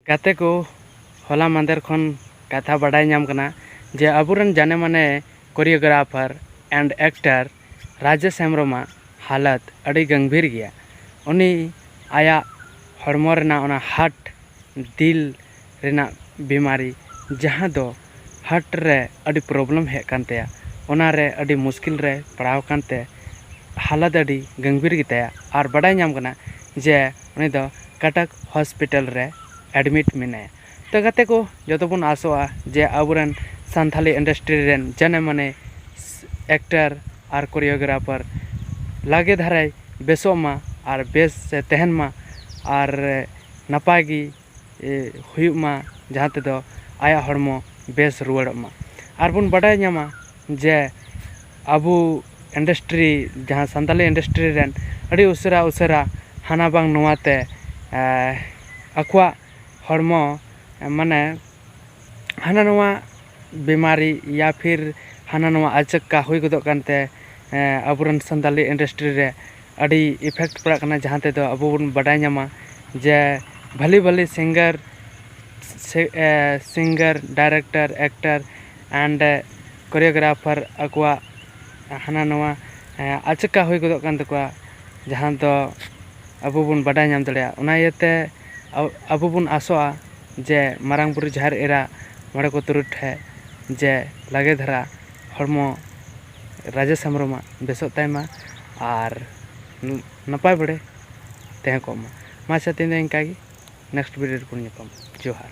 ᱜᱟᱛᱮ ᱠᱚ ᱦᱚᱞᱟ ᱢᱟᱫᱷᱮᱨ ᱠᱷᱚᱱ ᱠᱟᱛᱷᱟ ᱵᱟᱰᱟᱭ ᱧᱟᱢ ᱠᱟᱱᱟ ᱡᱮ ᱟᱵᱚ ᱨᱮᱱ ᱡᱟᱱᱮ ᱢᱟᱱᱮ choreographer and actor Rajesh Hembrom ᱟᱜ ᱦᱟᱞᱚᱛ ᱟᱹᱰᱤ ᱜᱟᱹᱢᱵᱷᱤᱨ ᱜᱮᱭᱟ ᱩᱱᱤ ᱟᱭᱟᱜ ᱦᱚᱲᱢᱚ ᱨᱮᱱᱟᱜ ᱚᱱᱟ ᱦᱟᱨᱴ ᱫᱤᱞ ᱨᱮᱱᱟᱜ ᱵᱤᱢᱟᱨᱤ ᱡᱟᱦᱟᱸ ᱫᱚ ᱦᱟᱨᱴ ᱨᱮ ᱟᱹᱰᱤ ᱯᱨᱚᱵᱞᱮᱢ ᱦᱮᱡ ᱟᱠᱟᱱ ᱛᱟᱭᱟ ᱚᱱᱟ ᱨᱮ ᱟᱹᱰᱤ ᱢᱩᱥᱠᱤᱞ ᱨᱮ ᱯᱟᱲᱟᱣ ᱟᱠᱟᱱ ᱛᱮ ᱦᱟᱞᱚᱛ ᱟᱹᱰᱤ ᱜᱟᱹᱢᱵᱷᱤᱨ ᱜᱮᱛᱟᱭᱟ ᱟᱨ ᱵᱟᱰᱟᱭ ᱧᱟᱢ ᱟᱠᱟᱱᱟ ᱡᱮ ᱩᱱᱤ ᱫᱚ ᱠᱟᱴᱟᱠ ᱦᱚᱥᱯᱤᱴᱟᱞ ᱨᱮ ᱮᱰᱢᱤᱴ ᱢᱮᱱᱟᱭᱟ ᱛᱚ ᱜᱟᱛᱮ ᱠᱚ ᱡᱚᱛᱚ ᱵᱚᱱ ᱟᱥᱚᱜᱼᱟ ᱡᱮ ᱟᱵᱚ ᱨᱮᱱ ᱥᱟᱱᱛᱟᱲᱤ ᱤᱱᱰᱟᱥᱴᱨᱤ ᱨᱮᱱ ᱡᱟᱱᱮ ᱢᱟᱱᱮ ᱮᱠᱴᱟᱨ ᱟᱨ ᱠᱳᱨᱤᱭᱳᱜᱨᱟᱯᱷᱟᱨ ᱞᱟᱜᱮ ᱫᱷᱟᱨᱟᱭ ᱵᱮᱥᱚᱜ ᱢᱟ ᱟᱨ ᱵᱮᱥ ᱮ ᱛᱟᱦᱮᱱ ᱢᱟ ᱟᱨ ᱱᱟᱯᱟᱭ ᱜᱮ ᱦᱩᱭᱩᱜ ᱢᱟ ᱡᱟᱦᱟᱸ ᱛᱮᱫᱚ ᱟᱭᱟᱜ ᱦᱚᱲᱢᱚ ᱵᱮᱥ ᱨᱩᱣᱟᱹᱲᱚᱜ ᱢᱟ ᱟᱨ ᱵᱚᱱ ᱵᱟᱰᱟᱭ ᱧᱟᱢᱟ ᱡᱮ ᱟᱵᱚ ᱤᱱᱰᱟᱥᱴᱨᱤ ᱡᱟᱦᱟᱸ ᱥᱟᱱᱛᱟᱲᱤ ᱤᱱᱰᱟᱥᱴᱨᱤ ᱨᱮᱱ ᱟᱹᱰᱤ ᱩᱥᱟᱹᱨᱟ ᱩᱥᱟᱹᱨᱟ ᱦᱟᱱᱟ ᱵᱟᱝ ᱱᱚᱣᱟ ᱛᱮ ᱟᱠᱚᱣᱟᱜ ᱦᱚᱲᱢᱚ ᱢᱟᱱᱮ ᱦᱟᱱᱟ ᱱᱚᱣᱟ ᱵᱤᱢᱟᱨᱤ ᱤᱭᱟ ᱯᱷᱤᱨ ᱦᱟᱱᱟ ᱱᱚᱣᱟ ᱟᱪᱚᱠᱟ ᱦᱩᱭ ᱜᱚᱫᱚᱜ ᱠᱟᱱᱛᱮ ᱟᱵᱚ ᱨᱮᱱ ᱥᱟᱱᱛᱟᱲᱤ ᱤᱱᱰᱟᱥᱴᱨᱤ ᱨᱮ ᱟᱹᱰᱤ ᱤᱯᱷᱮᱠᱴ ᱯᱟᱲᱟᱜ ᱠᱟᱱᱟ ᱡᱟᱦᱟᱸ ᱛᱮᱫᱚ ᱟᱵᱚ ᱵᱚᱱ ᱵᱟᱰᱟᱭ ᱧᱟᱢᱟ ᱡᱮ ᱵᱷᱟᱞᱮ ᱵᱷᱟᱞᱮ ᱥᱤᱝᱜᱟᱨ ᱥᱮ singer director actor and choreographer ᱟᱠᱚᱣᱟᱜ ᱦᱟᱱᱟ ᱱᱚᱣᱟ ᱟᱪᱠᱟ ᱦᱩᱭ ᱜᱚᱫᱚᱜ ᱠᱟᱱ ᱛᱟᱠᱚᱣᱟ ᱡᱟᱦᱟᱸ ᱫᱚ ᱟᱵᱚ ᱵᱚᱱ ᱵᱟᱰᱟᱭ ᱧᱟᱢ ᱫᱟᱲᱮᱭᱟᱜᱼᱟ ᱚᱱᱟ ᱤᱭᱟᱹᱛᱮ ᱟᱵᱚ ᱵᱚᱱ ᱟᱥᱚᱜᱼᱟ ᱡᱮ ᱢᱟᱨᱟᱝ ᱵᱩᱨᱩ ᱡᱟᱦᱮᱨ ᱮᱨᱟ ᱢᱚᱬᱮ ᱠᱚ ᱛᱩᱨᱩᱭ ᱴᱷᱮᱱ ᱡᱮ ᱞᱟᱜᱮ ᱫᱷᱟᱨᱟ ᱦᱚᱲᱢᱚ ᱨᱟᱡᱮᱥ ᱦᱮᱢᱵᱨᱚᱢᱟᱜ ᱵᱮᱥᱚᱜ ᱛᱟᱭ ᱢᱟ ᱟᱨ ᱱᱟᱯᱟᱭ ᱵᱟᱲᱮ ᱛᱟᱦᱮᱸ ᱠᱚᱜ ᱢᱟ ᱢᱟ ᱟᱪᱪᱷᱟ ᱛᱮᱦᱮᱧ ᱫᱚ ᱤᱱᱠᱟᱹ ᱜᱮ ᱱᱮᱠᱥᱴ ᱵᱷᱤᱰᱤᱭᱳ ᱨᱮᱵᱚᱱ ᱧᱟᱯᱟᱢᱟ ᱡᱚᱦᱟᱨ